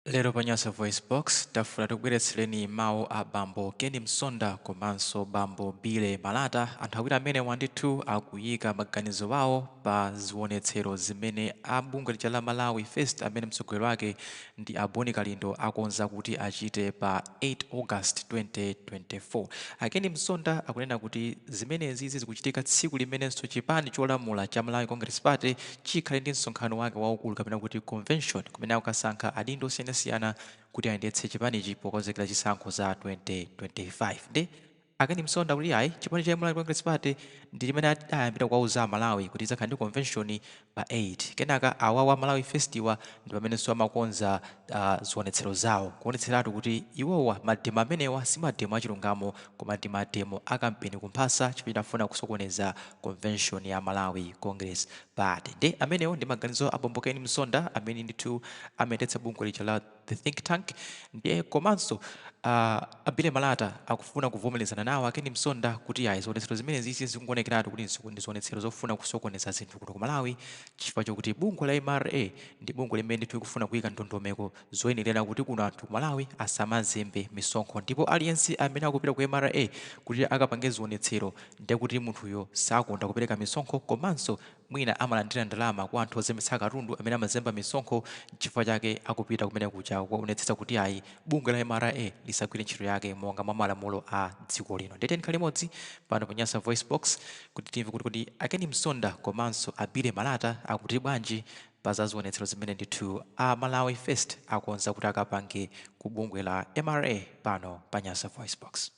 Lero pa Nyasa VoiceBox tafuna tikubweretsereni mawu a bambo Ken Msonda komanso bambo Billy Malata, anthu awiri amenewa ndithu akuyika maganizo awo pa ziwonetsero zimene a bungwe lija la Malawi First amene mtsogoleri wake ndi a Boni Kalindo akonza kuti achite pa 8 August 2024. A Ken Msonda akunena kuti zimenezizi zikuchitika tsiku limenenso chipani cholamula cha Malawi Congress Party chikhale ndi msonkhano wake waukulu kapena kuti convention. kumene akukasankha adindo osiyanasiyana kuti ayendetse chipanichi pokonzekera zisankho za 2025 nde a Ken Msonda akuti ayi chipani cha Malawi Congress Party ndi chimene chidayambira kuwauza Amalawi kuti idzakhala ndi convention pa 8 kenaka awawa Malawi First-wa ndi pamenenso amakonza ah, zionetsero zawo kuonetseratu kuti iwowa mademo amenewa si mademo achilungamo koma ndi mademo a kampeni kumphasa chimene chimafuna kusokoneza convention ya Malawi Congress Party. Nde amenewo ndi maganizo a bambo Ken Msonda amene ndithu amayendetsa bungwe lija la The Think Tank nde komanso aah a Billy Malata akufuna kuvomelezana nawo a Ken Msonda kuti yayi zionetsero zimenezizi zikungowonekeratu kuti ndi zionetsero zofuna kusokoneza zinthu kuno ku Malawi chifukwa chokuti bungwe la mra ndi bungwe limene ndithu likufuna kuyika ndondomeko zoyenelera kuti kuno anthu ku Malawi asamazembe misonkho ndipo aliyense amene akupita ku mra kuti akapange zionetsero ndiye kuti munthuyo sakonda kupereka misonkho komanso mwina amalandira ndalama kwa anthu ozembetsa katundu amene amazemba misonkho nchifukwa chake akupita kumene kuja kukaonetsetsa kuti ayi bungwe la mra lisagwire ntchito yake monga mwa malamulo a dziko lino ndiye tiyeni tikhale limodzi pano pa nyasa voice box kuti timve kuti kodi a ken msonda komanso a billy malata akuti bwanji pa za zionetsero zimene ndithu a malawi first akonza kuti akapange ku bungwe la mra pano pa nyasa voice box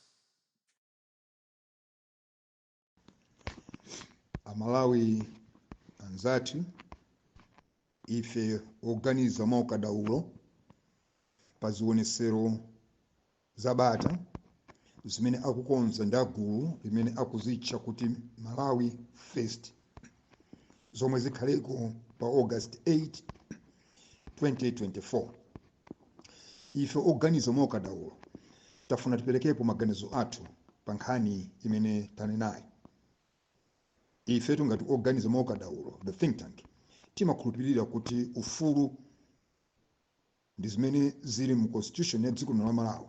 amalawi anzathu ife oganiza mwa ukadaulo pa zionesero za bata zimene akukonza ndi a gulu limene akuzitcha kuti malawi first zomwe zikhaleko pa august 8 2024 ife oganiza mwa ukadaulo tafuna tiperekepo maganizo athu pa nkhani imene tanenayi ifetu ngati oganiza mwa ukadaulo the think tank timakhulupirira kuti ufulu ndi zimene zili mu constitution ya dziko lino la malawi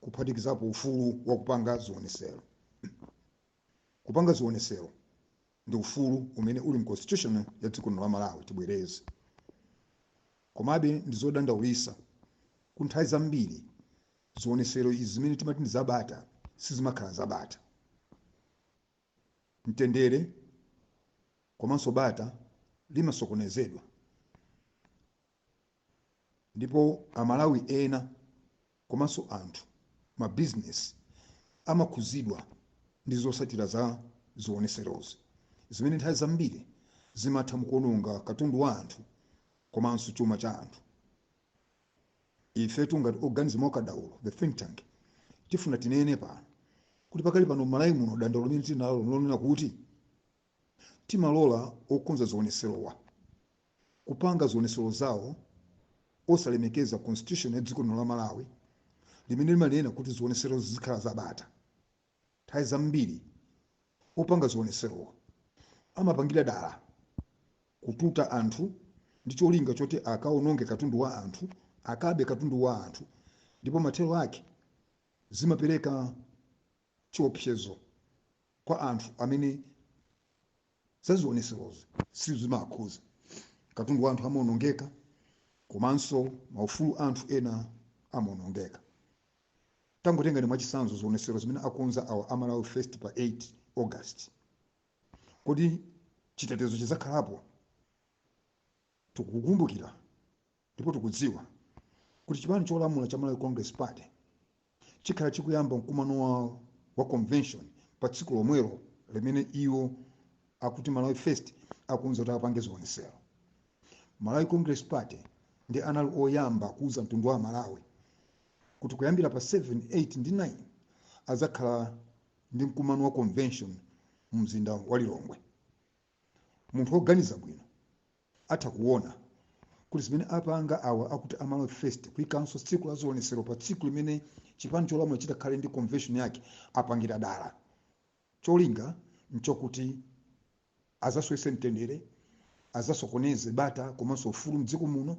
kuphatikizapo ufulu wa kupanga zionesero kupanga zionesero ndi ufulu umene uli mu constitution ya dziko lino la Malawi tibwereze. Komabe ndi zodandaulisa ku nthawi zambiri zionesero izi zimene timati ndi zabata sizimakhala zabata. Mtendere komanso bata limasokonezedwa ndipo amalawi ena komanso anthu ma business amakhuzidwa ndi zotsatira za zioneserozi zimene nthawi zambiri zimatha mukuononga katundu wa anthu komanso chuma cha anthu ifetu ngati oganiza mwa kadaulo the think tank tifuna tinene pano kuti pakali pano m'Malawi muno dandaulo limene tili nalo lonena kuti timalola okonza zioneserowa kupanga zionetsero zawo osalemekeza constitution ya dziko lino la Malawi limene limanena kuti zionetserozo zizikhala zabata. Nthawi zambiri opanga zionetserowo amapangira dala kututa anthu ndi cholinga choti akaononge katundu wa anthu, akabe katundu wa anthu ndipo mathero ake zimapereka chiopsezo kwa anthu amene za zioneserozi sizimawakhuza. Katundu wa anthu amaonongeka komanso maufulu a anthu ena amaonongeka. Tangotengani mwachitsanzo zionesero zimene akonza awa a Malawi First pa 8 August. Kodi chitetezo chidzakhalapo? Tikukumbukira Ndipo tikudziwa kuti chipani cholamula cha Malawi Congress Party chikhala chikuyamba mkumano wa convention pa tsiku lomwelo limene iwo akuti Malawi First akonza kuti apange zionesero. Malawi Congress Party ndi anali oyamba kuuza mtundu wa Malawi kuti kuyambira pa 7, 8 ndi 9 adzakhala ndi mkumano wa convention mu mzinda wa Lilongwe. Munthu woganiza bwino atha kuona kuti zimene apanga awa akuti Malawi First kuikanso tsiku la zionetsero pa tsiku limene chipani cholamula chitakhale ndi convention yake apangira dala. Cholinga n'chokuti adzasowetse mtendere, adzasokoneze bata komanso ufulu m'dziko muno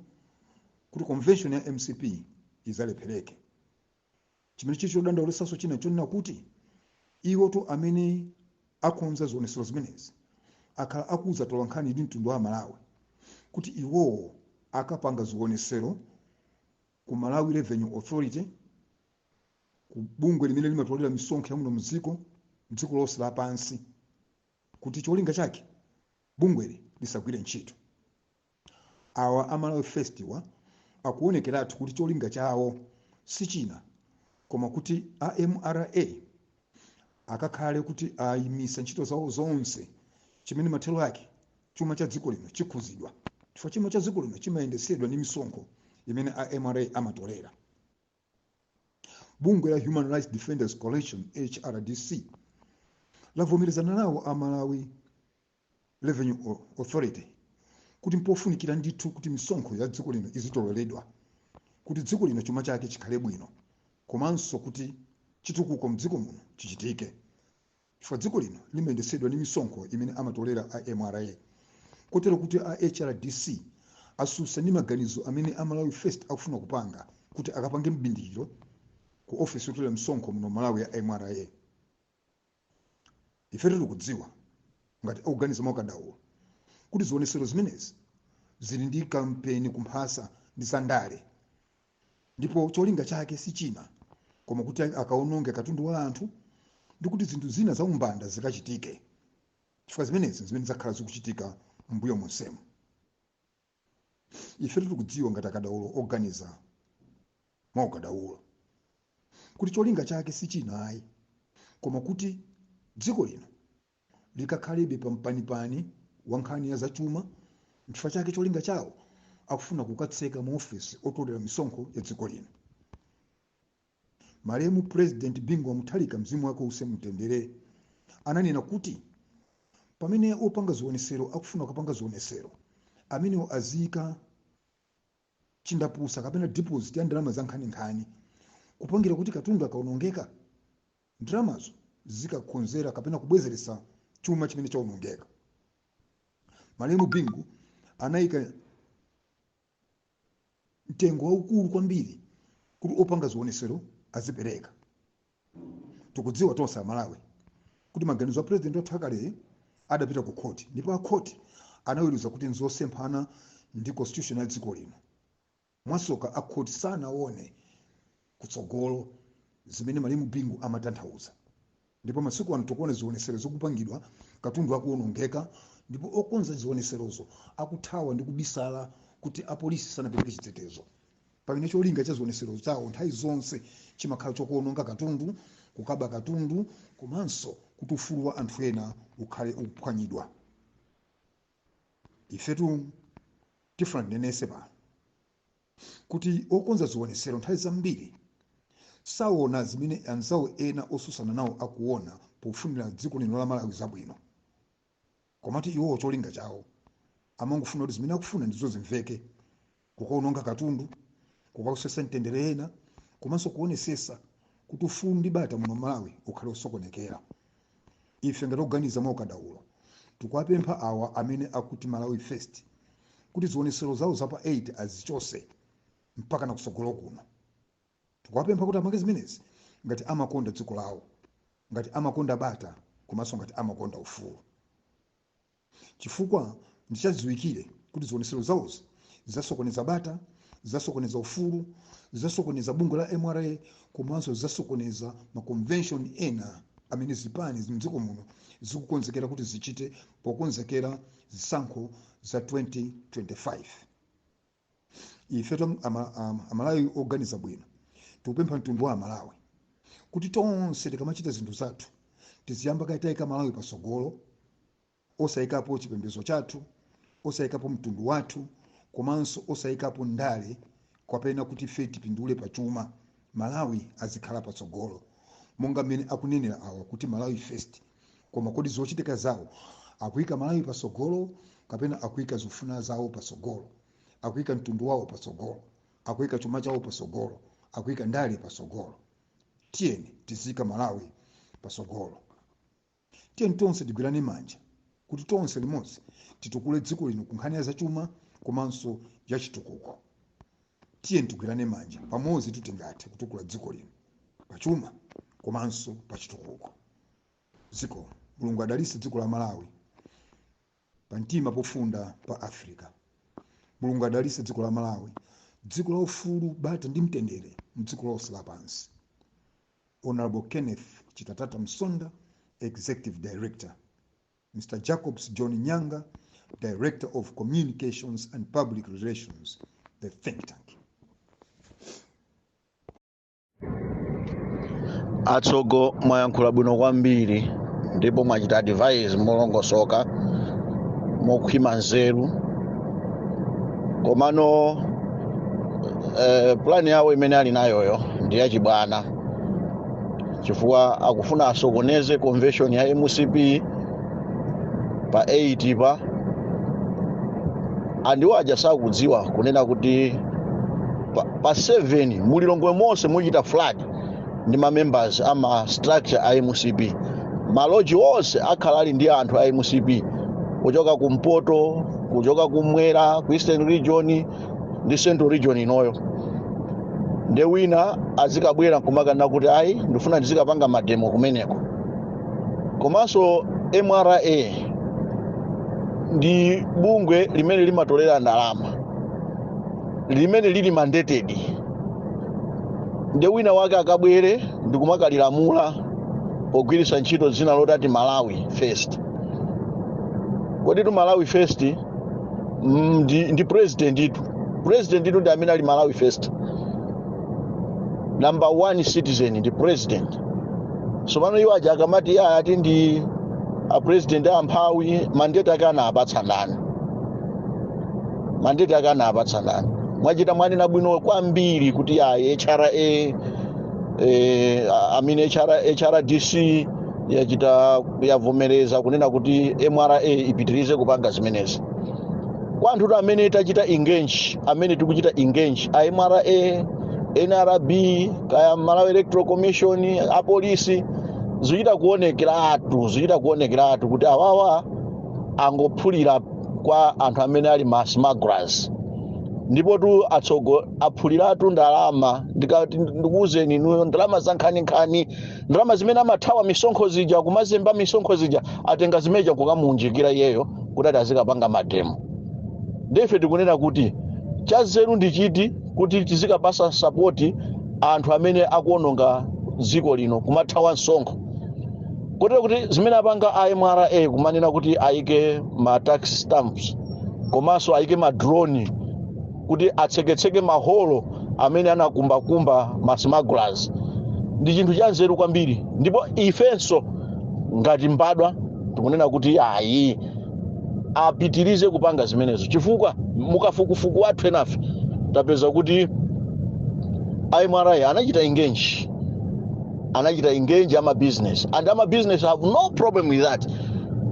kuti convention ya MCP idzalephereke. chimene chili chodandaulitsanso china chonena kuti iwotu amene akonza zionetsero zimenezi akhala akuuza tolankhani ndi mtundu wa amalawi kuti iwowo akapanga zionetsero ku malawi revenue authority ku bungwe limene limatolera misonkho ya muno mdziko mdziko lonse lapansi kuti cholinga chake bungweli lisagwire ntchito Awa a Malawi Firstwa akuonekeratu kuti cholinga chawo si china koma kuti a mra akakhale kuti ayimisa ntchito zawo zonse chimene mathero ake chuma cha dziko lino chikhuzidwa chifukwa chuma cha dziko lino chimayendesedwa ndi misonkho imene a mra amatolera bungwe la human rights defenders coalition hrdc lavomerezana nawo a malawi revenue authority kuti mpofunikira ndithu kuti misonkho ya dziko lino izitoleredwa kuti dziko lino chuma chake chikhale bwino komanso kuti chitukuko mdziko muno chichitike chifukwa dziko lino limayendetsedwa ndi misonkho imene amatolera a mra kotero kuti a hrdc asusa ndi maganizo amene a malawi first akufuna kupanga kuti akapange mbindikiro ku ofesi yotolera misonkho muno malawi ya mra ifetu tikudziwa ngati akuganiza mwakadaulo kuti zionesero zimenezi zili ndi kampeni kumphasa ndi zandale ndipo cholinga chake si china koma kuti akawononge katundu wa anthu ndi kuti zinthu zina za umbanda zikachitike chifukwa zimenezi zimene zakhala zikuchitika m'mbuyo monsemu ifetu tikudziwa ngati akadaulo oganiza mwa ukadaulo kuti cholinga chake si china ayi koma kuti dziko lino likakhalebe pampanipani wa nkhani ya zachuma nchifukwa chake cholinga chawo akufuna kukatseka maofesi otolera misonkho ya dziko lino malemu purezidenti bingu wa mutharika mzimu wake uuse mumtendere ananena kuti pamene opanga zionesero akufuna kupanga zionesero amenewo aziyika chindapusa kapena deposit ya ndalama za nkhaninkhani kupangira kuti katundu akaonongeka ndalamazo zikakonzere kapena kubwezeretsa chuma chimene chaonongeka malemu bingu anayika mtengo waukulu kwambiri kuti opanga zionesero azipereka tikudziwa tonse amalawi kuti maganizo a purezidenti wathu akaleyi adapita ku khoti ndipo akhoti anaweruza kuti nzosemphana ndi constitution ya dziko lino mwasoka akhoti sanaone kutsogolo zimene malemu bingu amatanthauza ndipo masiku ano tikuona zionesero zokupangidwa katundu akuonongeka ndipo okonza zioneserozo akuthawa ndi kubisala kuti apolisi sanapereke chitetezo pamene cholinga cha zionetsero chawo nthawi zonse chimakhala chokuononga katundu kukaba katundu komanso kuti ufulu wa anthu ena ukhale ukuphwanyidwa ifetu tifuna tinenese pano kuti okonza zionetsero nthawi zambiri saona zimene anzawo ena osusana nawo akuona pofunira dziko lino la malawi zabwino komatu iwowo cholinga chawo amangofuna kuti zimene akufuna ndizo zimveke kukaononga katundu kukausesa mtendere ena komanso kuonesesa kuti ufulu ndi bata muno malawi ukhale osokonekera ife ngati oganiza mwa ukadaulo tikuwapempha awa amene akuti malawi first kuti zionesero zawo za pa 8 azichose mpaka na kusogolo kuno Tikuwapempha kuti amake zimenezi ngati amakonda dziko lawo, ngati amakonda bata komanso ngati amakonda ufulu. Chifukwa ndi chadziwikire kuti zionetsero zawozi zidzasokoneza bata, zidzasokoneza ufulu, zidzasokoneza bungwe la mra komanso zidzasokoneza ma convention ena amene zipani m'dziko muno zikukonzekera kuti zichite pokonzekera zisankho za 2025. ife amalawi oganiza bwino tikupempha mtundu wa amalawi kuti tonse tikamachita zinthu zathu tiziyamba kaye taika malawi pasogolo osayikapo chipembedzo chathu osayikapo mtundu wathu komanso osayikapo ndale kapena kuti fe tipindule pa chuma malawi azikhala patsogolo monga mmene akunenera awa kuti malawi first koma kodi zochitika zawo akuyika malawi patsogolo kapena akuyika zofuna zawo patsogolo akuyika mtundu wawo patsogolo akuyika chuma chawo patsogolo akuyika ndale patsogolo tiyeni tiziika malawi patsogolo tiyeni tonse tigwirane manja kuti tonse limodzi titukule dziko lino ku nkhani ya zachuma komanso ya chitukuko tiyeni tigwirane manja pamodzi kuti tingathe kutukula dziko lino pachuma komanso pachitukuko dziko mulungu adalise dziko la malawi pa mtima pofunda pa africa mulungu adalise dziko la malawi dziko la ufulu bata ndi mtendere mdziko lonse lapansi honorable kenneth chitatata msonda executive director Mr. Jacobs John Nyanga, Director of Communications and Public Relations, the think tank. atsogo mwayankhula bwino kwambiri ndipo mwachita advise molongosoka mokhwima nzeru komano eh, plan yawo imene ali nayoyo ndi yachibwana chifukwa akufuna asokoneze convention ya mcp pa 8 pa and iwo aja sakudziwa kunena kuti pa, pa 7 mulilongwe monse muchita flood ndi mamembers a ma structure a mcp maloji onse akhala ali ndi anthu a mcp kuchoka kumpoto kuchoka kumwera ku eastern region ndi central region inoyo nde wina azikabwera nkumakana kuti ayi ndifuna ndizikapanga mademo kumeneko komanso mra ndi bungwe limene limatolera ndalama limene lili mandated nde wina wake akabwere ndikumakalilamula pogwiritsa ntchito dzina lotati malawi first koditu malawi first Mm, ndi, ndi president itu president itu ndi amene ali malawi first number one citizen ndi president so pano iwo aja akamati iye ati ndi a president amphawi mandate ake anawapatsa ndani mandate ake anawapatsa ndani mwachita mwanena bwino kwambiri kuti ayi hra eh, amene hra hrdc yachita yavomereza kunena kuti mra ipitirize kupanga zimenezi kwa anthu amene tachita engage amene tikuchita engage a mra nrb kaya malawi electoral commission apolisi zikuchita kuonekeratu zikuchita kuonekeratu kuti awawa angophulira kwa anthu amene ali ma smugglers ndipotu atsogo aphuliratu ndalama ndikati ndikuwuzeni inuyo ndalama zankhaninkhani ndalama zimene amathawa misonkho zija kumazemba misonkho zija atenga zimene zija kukamuunjikira iyeyo kuti ati azikapanga mademo ndife tikunena kuti chazeru ndi chiti kuti tizikapasa sapoti anthu amene akuononga dziko lino kumathawa msonkho kotero kuti zimene apanga a mra kumanena kuti ayike ma tax stamps komanso ayike ma drone kuti atseketseke maholo amene anakumbakumba ma smugglers ndi chinthu chanzeru kwambiri ndipo ifenso ngati mbadwa tikunena kuti ayi apitirize kupanga zimenezo chifukwa mukafukufuku wathu enafe tapeza kuti a mra anachita engage anachita engage amabizinesi and amabizinesi have no problem with that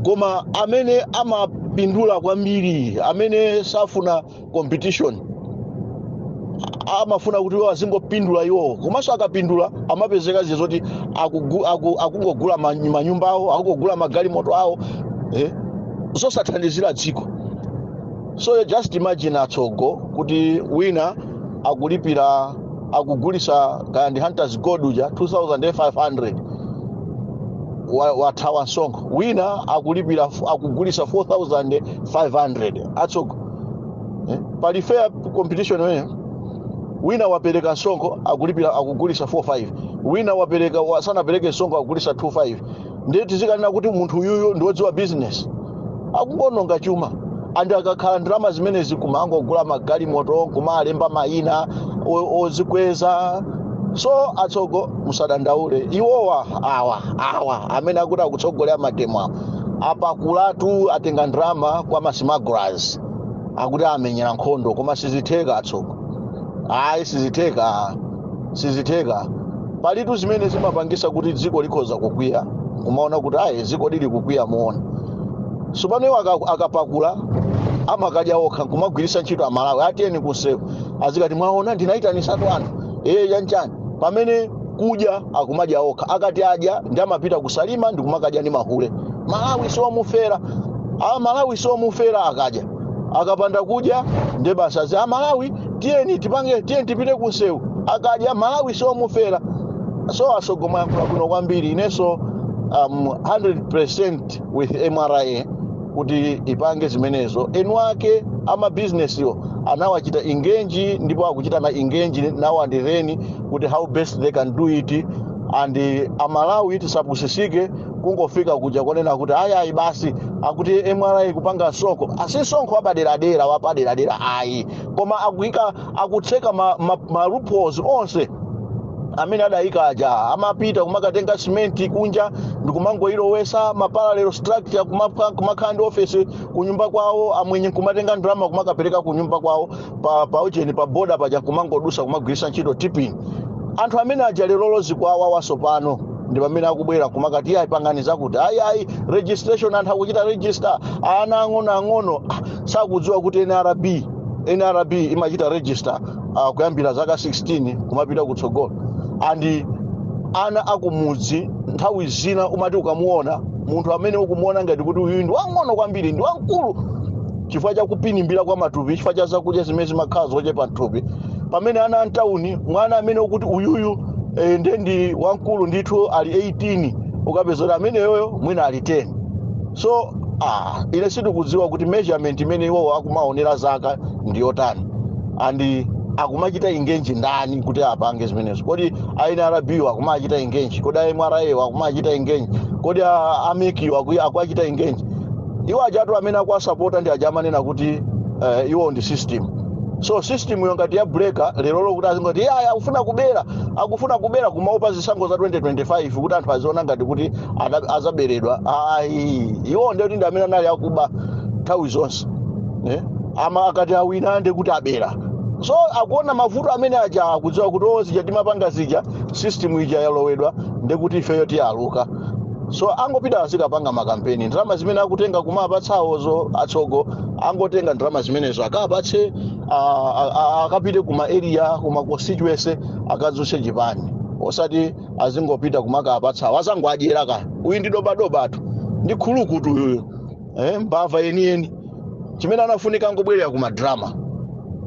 koma amene amapindula kwambiri amene safuna competition amafuna kuti iwo azingopindula iwowo komanso akapindula amapezeka ziye zoti akugu- aku- akungogula ma- manyumba awo akungogula magalimoto awo eh, zosathandizira dziko so just imagine atsogo kuti wina akulipira akugulisa kaya ndi hunters gold uja 2500 wa- wathawa msonkho wina akulipira akugulisa 4500 atsogo eh? pali fair competition imeneyo wina wapereka msonkho akulipira akugulisa 45 wina wapereka wa- sanapereke msonkho akugulisa 25 ndiye tizikanena kuti munthu uyuyu ndiwodziwa business akungononga chuma and akakhala ndalama zimenezi kumangogula magalimoto kumalemba mayina o- ozikweza so atsogo musadandaule iwowa awa awa amene akuti akutsogolera mademo awa apakulatu atenga ndalama kwa ma smugglers akuti amenyera nkhondo koma sizitheka atsogo ayi sizitheka sizitheka palitu zimene zimapangisa kuti dziko likhoza kukwiya kumaona kuti ayi dziko lili kukwiya mwaona sopano iwo aka- akapakula amakadya okha kumagwirisa ntchito amalawi atiyeni kunsewu azikati mwaona ndinaitanisatu anthu ee yanchani pamene kudya akumadya okha akati adya nde amapita ku Salima ndi kumakadya ndi mahule Malawi siomufera aMalawi siomufera akadya akapanda kudya nde basi amalawi tiyeni tipange tiyeni tipite kunsewu akadya Malawi siomufera so atsogo mwayankula bwino kwambiri inenso um, 100 with mra kuti ipange zimenezo eni ake amabizinesiwo anawachita engage ndipo akuchitana engage now and then kuti how best they can do it and amalawi tisapusisike kungofika kuja konena kuti ayayi basi akuti mra kupanga msonkho ati msonkho wapaderadera wapaderadera ayi koma akuika akutseka ma, ma, ma loopholes onse amene adayika aja amapita kumakatenga simenti kunja ndikumangoyilowesa maparallel structure kumaka- kumakhala ndi ofesi kunyumba kwawo amwenye nkumatenga ndalama kumakapereka kunyumba kwawo pa, pa ujeni pa boda paja kumangodusa kumagwiritsa ntchito tipping anthu amene aja lerolo zikuwawawa sopano ndi pamene akubwera kumakati ayi pangani zakuti ayi ayi registration anthu akuchita register ana ang'onoang'ono ah, sakudziwa kuti nrb nrb imachita register uh, kuyambira zaka 16 kumapita kutsogolo and ana akumudzi nthawi zina umati ukamuona munthu amene ukumuona ngati kuti uyu ndi wang'ono kwambiri ndi wamkulu chifukwa cha kupinimbira kwa matupi chifukwa cha zakudya zimene zimakhala zochepa mthupi pamene ana amtawuni mwana amene ukuti uyuyu eh, nde ndi wamkulu ndithu ali 18 ukapeza kuti ameneyoyo mwina ali 10 so ah, ine sindikudziwa kuti measurement imene iwowo akumaonera zaka ndi yotani and akumachita engage ndani kuti apange zimenezo kodi a nrb akumawachita engage kodi a mra akumawachita engage kodi a MEC-wo akuwachita engage iwo ajatu amene akuwasapota ndi aja amanena kuti uh, iwo ndi system so system yo ngati yabuleka lerolo kuti azingoti "Yeah, akufuna kubera akufuna kubera kumaopa zisankho za 2025 kuti anthu aziona ngati kuti ada- azaberedwa ayi iwo ndekuti ndi amene anali akuba nthawi zonse eh? amaakati awina nde kuti abera so akuona mavuto amene aja akudziwa kuti o zija timapanga zija system ija yalowedwa ndekuti ifeyo tiluza so angopita azikapanga makampeni ndalama zimene akutenga kumapatsa awozo atsogo angotenga ndalama zimenezo akapatse a- a- a- akapite kuma area kuma constituency akadzutse chipani osati azingopita kumakapatsa awo azangoadyera kaya uyu ndi dobadobatu ndi khulukutu uyuyo eh, mbava yeniyeni chimene amafunika angobwerera ku madrama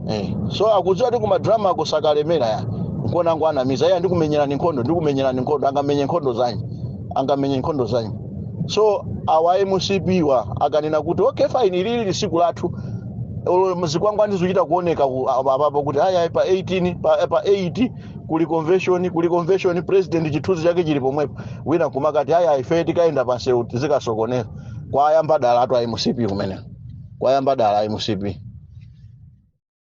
eh. so akudziwa kuti ku madrama uko sakalemera ya nkona akungonamiza iye ndikumenyerani nkhondo ndikumenyerani nkhondo angamenye nkhondo zanyi angamenye nkhondo zanyi so awa mcp wa akananena kuti okay fine ili ndi tsiku lathu Olo zikwangwani zikuchita kuoneka ku- apa- apapo kuti aya pa 18 pa, pa 8 kuli convention kuli convention president chithunzi chake chili pomwepo wina kumakati ayi ayi ife tikayenda pansewu tizikasokoneza kwayamba dalatu a mcp kumeneko kwayamba dala a mcp